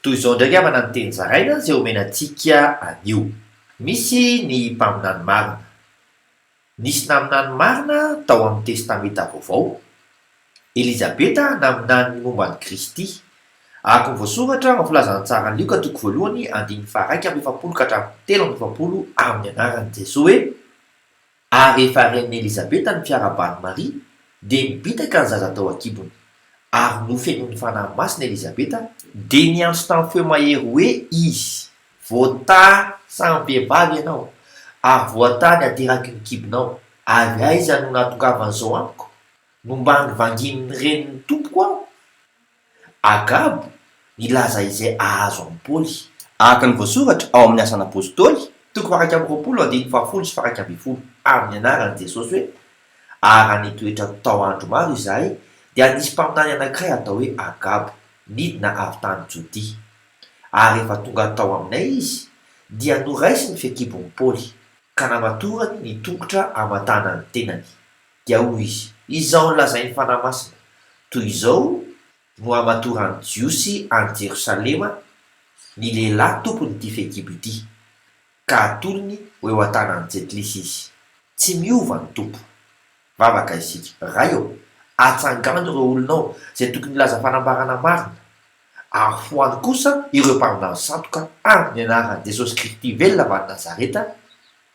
Toy izao indray havana ny teny zaraina izay omena antsika anio. Misy ny mpaminany marina. Nisy naminany marina tao amin'ny Testamenta Vaovao. Elizabeta naminany ny momba an'i Kristy. Araka ny voasoratra ao amin'ny filazan'ny tsaran'i Lioka toko voalohany andininy faha iraika amby efapolo ka hatramin'ny telo amby efapolo amin'ny anaran'i Jesoa hoe. Ary rehefa renin'i Elizabeta ny fiarahaban'i Maria, dia nibitaka ny zaza tao an-kibony. Ary nofenoin'ny Fanahy Masina Elizabeta, dia niantso tamin'ny feo mahery hoe izy, Voatahy samy vehivavy ianao, ary voatahy ny ateraky ny kibonao, ary aiza no nahatongavan'izao amiko? Nomban'ny vanginin'ny renin'ny Tompoko aho? Agabo nilaza izay ahazo amin'i Paoly, araka ny voasoratra ao amin'ny Asan'ny Apôstôly, toko faha-iraika amby roapolo andininy fahafolo sy faha-iraika ambin'ny folo, Ary nianaran'i Jesosy hoe, Ary raha nitoetra tao andro maro izahay, dia nisy mpaminany anankiray atao hoe Agabo, nidina avy tany Jodia. Ary rehefa tonga tao aminay izy, dia noraisiny ny fehin-kibon'i Paoly, ka namatorany ny tongotra hamantaana ny tenany. Dia hoy izy, Izao no lazain'ny Fanahy Masina, Toy izao no hamatoran'ny Jiosy any Jerosalema ny lehilahy tompon'ity fehikibo ity, ka hatolony ho eo an-tanan'i Jetlisy izy. Tsy miova ny Tompo. Vavaka isika. Ray ô, atsangano ireo olonao izay tokony hilaza fanambarana marina, ary foano kosa ireo mpaminany sandoka, amin'ny anaran'i Jesosy Kristy velona avy any Nazareta,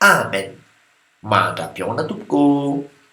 amen. Mahantra-pihaona, Tompoko ô.